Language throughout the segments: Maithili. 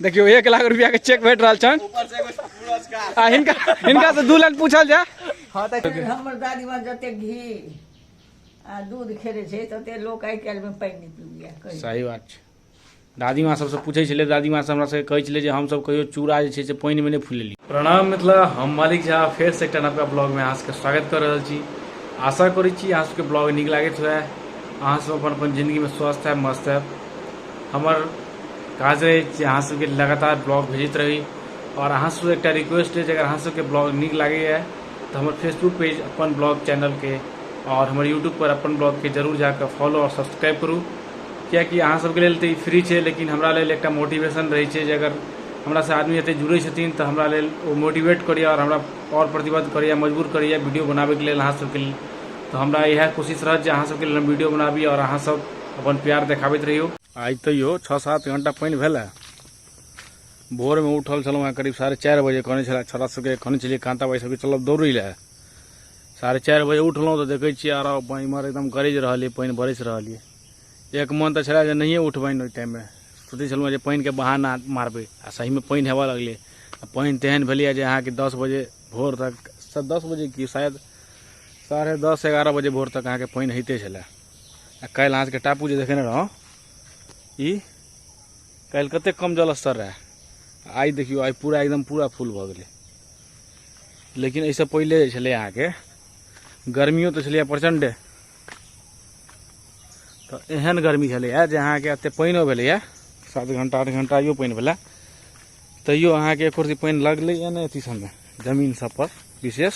देखियो एक लाख रुपया के चेक भेट रहा छन आ हिनका हिनका से दू लाख पूछल जा हमर दादी माँ जते घी आ दूध खेले छै तते लोक आइ काल्हि में पानि नहि पीबैया कहियो। सही बात छै दादी माँ सबसँ पूछै छलै दादी माँ सब हमरा सबके कहै छलै जे हमसब कहियो चूड़ा जे छै से पानिमे नहि फुलेली प्रणाम मिथिला हम मालिक झा फेर से एकटा नवका ब्लॉगमे अहाँ सबके स्वागत कऽ रहल छी आशा करै छी अहाँ सबके ब्लॉग नीक लागैत हुए अहाँ सब अपन अपन जिंदगीमे स्वस्थ है मस्त है हमर काज रहै जे अहाँ सबके लगातार ब्लॉग भेजैत रही आओर अहाँ सब एकटा रिक्वेस्ट है जे अगर अहाँ सबके ब्लॉग नीक लागैए तऽ हमर फेसबुक पेज अपन ब्लॉग चैनलके आओर हमर यूट्यूब पर अपन ब्लॉगके जरूर जाकऽ फॉलो आओर सब्सक्राइब करू कियाकि अहाँ सबके लेल तऽ ई फ्री छै लेकिन हमरा लेल एकटा मोटिवेशन रहै छै जे अगर हमरा से आदमी एते जुड़ै छथिन तऽ हमरा लेल ओ मोटिवेट करैए आओर हमरा आओर प्रतिबद्ध करैए मजबूर करैए वीडियो बनाबैके लेल अहाँ सबके लेल तऽ हमरा इएह कोशिश रहत जे अहाँ सबके लेल हम वीडियो बनाबी आओर अहाँ सब अपन प्यार देखाबैत रहियौ आइ तैयो छओ सात घंटा पानि भेलै भोरमे उठल छलहुँ हेँ करीब साढ़े चारि बजे कहने छलै छोरा सबके कहने छलियै कांता भाई सबके चलब दौड़ै लए साढ़े चारि बजे उठलहुँ तऽ देखै छियै आरो पानि इमहर एकदम गरजि रहल यऽ पानि बरसि रहल यऽ एक मन तऽ छलै जे नहिए उठबनि ओहि टाइममे सोचै छलहुँ जे पानिके बहाना मारबै आ सहीमे पानि हेबऽ लगलै आ पानि तेहन भेलैए जे अहाँके दस बजे भोर तक स- दस बजे की शायद साढ़े दस एगारह बजे भोर तक अहाँके पानि होइते छलै आ काल्हि अहाँके टापू जे देखेने रहौं ई काल्हि कतेक कम जलस्तर रहै आ आइ देखियौ आइ पूरा एकदम पूरा फुल भऽ गेलै लेकिन एहिसँ पहिले जे छलै अहाँके गर्मियो तऽ छलैए प्रचण्डे तऽ एहन गर्मी छलैए जे अहाँके एतेक पानिओ भेलैए सात घंटा आठ घंटाइयो पानि भेलै तैयो अहाँके एक रति पानि लगलैए ने अथी सबमे जमीन सब पर विशेष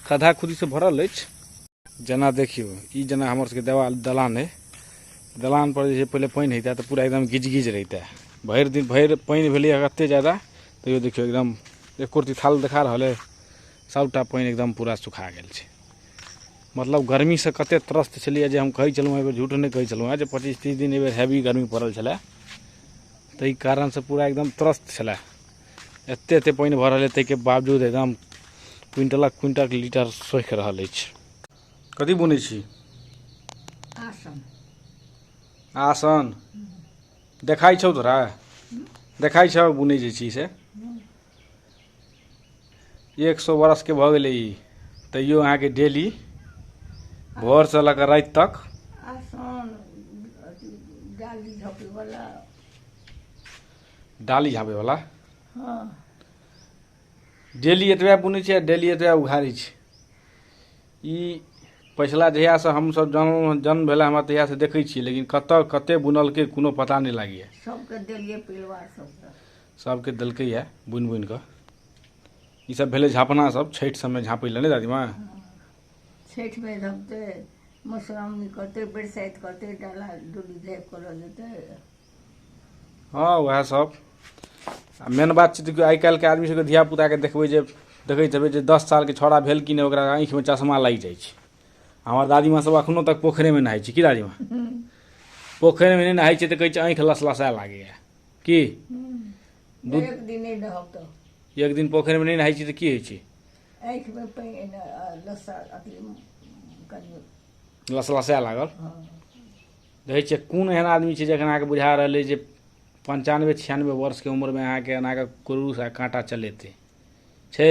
खद्धा खुदी से भरल अछि जेना देखियौ ई जेना हमर सबके देवाल दलान अइ दलान पर जे छै पहिले पानि हेतै तऽ पूरा एकदम गिज गिज रहितै भरि दिन भरि पानि भेलै कते जादा तैयो देखियौ एकदम एक रति थाल देखा रहल अइ सबटा पानि एकदम पूरा सुखा गेल छै मतलब गर्मी से कते त्रस्त छलियै जे हम कहै छलहुँ एहि बेर झूठ नहि कहै छलहुँ जे पच्चीस तीस दिन एहि बेर हैवी गर्मी पड़ल छलै ताहि कारणसँ पूरा एकदम त्रस्त छलए एतेक एतेक पानि भऽ रहल अइ ताहिके बावजूद एकदम क्विंटलक क्विंटल लीटर सोखि रहल अछि कथी बुनै छी आसन आसन देखाइ छौ तोरा देखाइ छौ बुनै जे छी से एक सौ बरस के भऽ गेलै ई तैयो अहाँके डेली भोर से लऽ कऽ राति तक आसान अथी डाली ढपैवला डाली झाँपे वाला हँ डेली एतबे बुनै छै आ डेली एतबे उघारै छै ई पछिला जहियासँ हमसभ जन्म जन्म भेला हमरा तहियासँ देखै छियै लेकिन कतऽ कते बुनलकै कोनो पता नहि लागैए सबके देलियै परिवार सबके सभके देलकै यऽ बुनि बुनि कऽ ई सब भेलै झापना सब छठि सबमे झाँपै लए नहि दादीमा छठिमे झपतै मधुश्रावणी करतै बरसाइत करतै डाला डोली झाँपि कऽ लऽ जेतै हँ वएह सब आ मेन बात छै देखियौ आइ काल्हिके आदमी सबके धिया पुताके देखबै जे देखैत हेबै जे दस सालके छौड़ा भेल कि नहि ओकरा आँखिमे चश्मा लागि जाइ छै हमर दादीमा सब अखनो तक पोखरिमे नहाइ छै की दादीमा पोखरिमे नहि नहाइ छै तऽ कहै छै आँखि लसलसाए लागैए की दू एक दिन नहि रहब तऽ एक दिन पोखरिमे नहि नहाइ छी तऽ की होइ छै आँखिमे पानि एना, आ, लस्सा अथी कनि लसलसाए लागल हँ देखै छियै कोन एहन आदमी छै जखन अहाँके बुझा रहल अइ जे पञ्चानबे छियानबे वर्षके उम्रमे अहाँके एनाके क्रूस आ काँटा चलेतै छै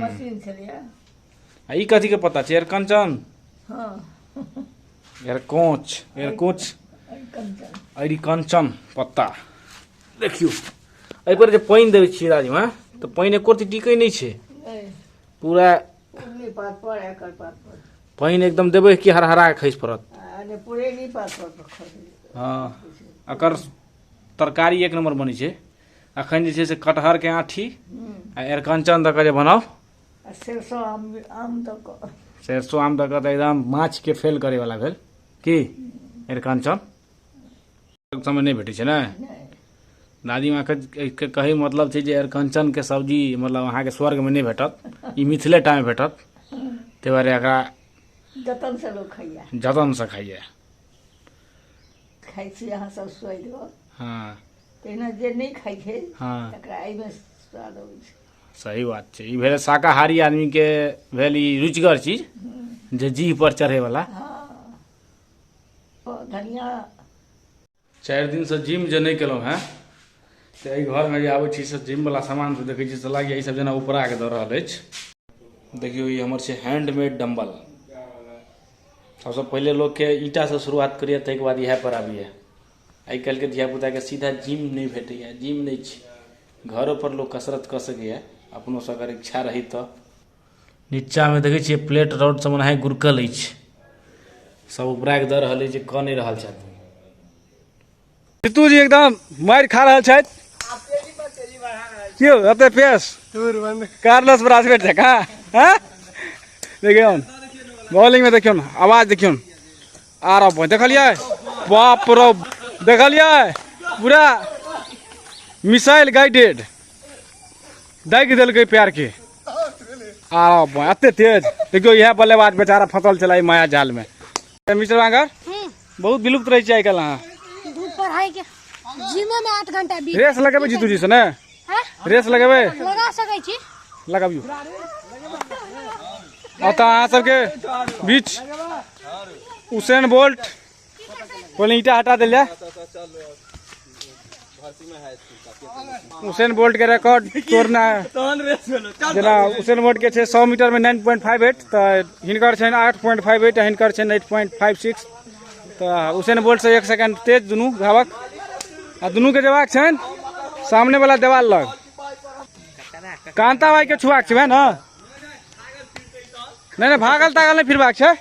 मशीन छलियै आ ई कथी के पता छै एयर कंचन हँ एयर कोच एयर कोच अरे कंचन अरि कंचन पत्ता देखियौ एहि पर जे पानि देबै छियै राजमा तऽ पानि एको रती टिकै नहि छै नहि पूरा उगली पात पर एकर पात पर पानि एकदम देबै कि हरहरा के खसि पड़त आ ने पुरेनी पात पर पर खसै हँ एकर तरकारी एक नम्बर बनै छै अखन जे छै से कटहर के आठी आ एरकंचन दऽ कऽ जे बनाउ आ सरसो आम आम दऽ कऽ सरसो आम दऽ कऽ तऽ एकदम माछ के फेल करे वाला भेल की एरकंचन समय नहि भेटै छै ने दादी माँ के कहे मतलब छै जे एरकंचन के सब्जी मतलब अहाँके स्वर्ग में नहि भेटत ई मिथिले टा में भेटत ताहि दुआरे एकरा जतन से लोग खाइया जतन से खाइए खाइ छी अहाँ सब सोइ दो हँ तहिना जे नहि खाइ छै हँ तकरा एहिमे स्वाद अबै छै सही बात छै ई भेल शाकाहारी आदमीके भेल ई रुचिगर चीज जे जीह पर चढ़ैवला हँ ओ धनिया चारि दिनसँ जिम जे नहि केलहुँ हेँ तऽ एहि घरमे जे आबै छी से जिमवला सामान सब देखै छी से लागैए ईसभ जेना उपराके दऽ रहल अछि देखियौ ई हमर छै हैंडमेड डम्बल सबसँ पहिले लोकके ईंटासँ शुरुआत करैए ताहिके बाद इएह पर आबैए आइ काल्हिके धियापुताके सीधा जिम नहि भेटैए जिम नहि छै घरोपर लोक कसरत कऽ सकैए अपनोसँ अगर इच्छा रही तऽ नीचाँमे देखै छियै प्लेट रॉड सब ओनाहि गुरकल अछि सब उपराके दऽ रहल अछि जे कऽ नहि रहल छथि जीतूजी एकदम मारि खा रहल छथि की हो एते पेस कार्लस ब्रासवेट जकाँ हँ देखियौ बॉलिंगमे देखियौ आवाज देखियौ आ रहा बहिन देखलिए बाप रो देखलिए पूरा मिसाइल गाइडेड दागि देलकै प्यार के आ रहा बहिन एते तेज देखियो यह बल्लेबाज बेचारा फसल चला माया जाल में मिश्र बांगर हम्म। बहुत विलुप्त रही चाहिए कल अहाँ रेस लगे जीतू जी से ना रेस लगेबै लगा सकै छी लगाबियौ आ तऽ अहाँ सबके बीच उसेन बोल्ट पहिले ईटा हटा देल जाय उसेन बोल्ट के रिकॉर्ड तोड़ना है तहन रेस भेलो चल जेना उसेन बोल्ट के छै सौ मीटर में नाइन पॉइंट फाइव एट तऽ हिनकर छनि आठ पॉइंट फाइव एट हिनकर छनि एट पॉइंट फाइव सिक्स तऽ उसेन बोल्टसँ एक सेकेंड तेज दुनू धावक आ दुनूके जेबाक छनि सामनेवला देवाल लग कान्ता भाइके छुआक छै वएह ने नहि नहि भागल तागल नहि फिरबाक छै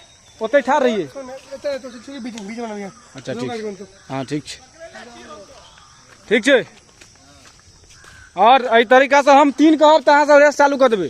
ओतहि ठाढ़ रहियै अच्छा ठीक छै हँ ठीक छै ठीक छै आओर एहि तरीकासँ हम तीन कहब तऽ अहाँसभ रेस चालू कऽ देबै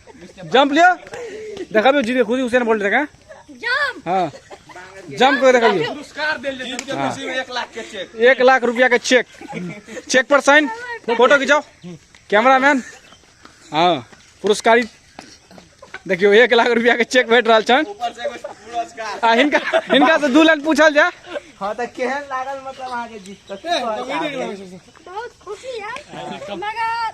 जंप लियो देखा भी जीते खुद ही हुसैन बोल्ट देखा जंप हाँ जंप कर देखा भी पुरस्कार दे ले एक लाख के चेक एक लाख रुपया के चेक चेक पर साइन फोटो खिंचाओ कैमरा मैन हाँ पुरस्कारी देखियो एक लाख रुपया के चेक भेट रहा छन आ हिनका हिनका से दू लाख पूछल जा हां त केहन लागल मतलब आगे जीत तक बहुत खुशी है मगर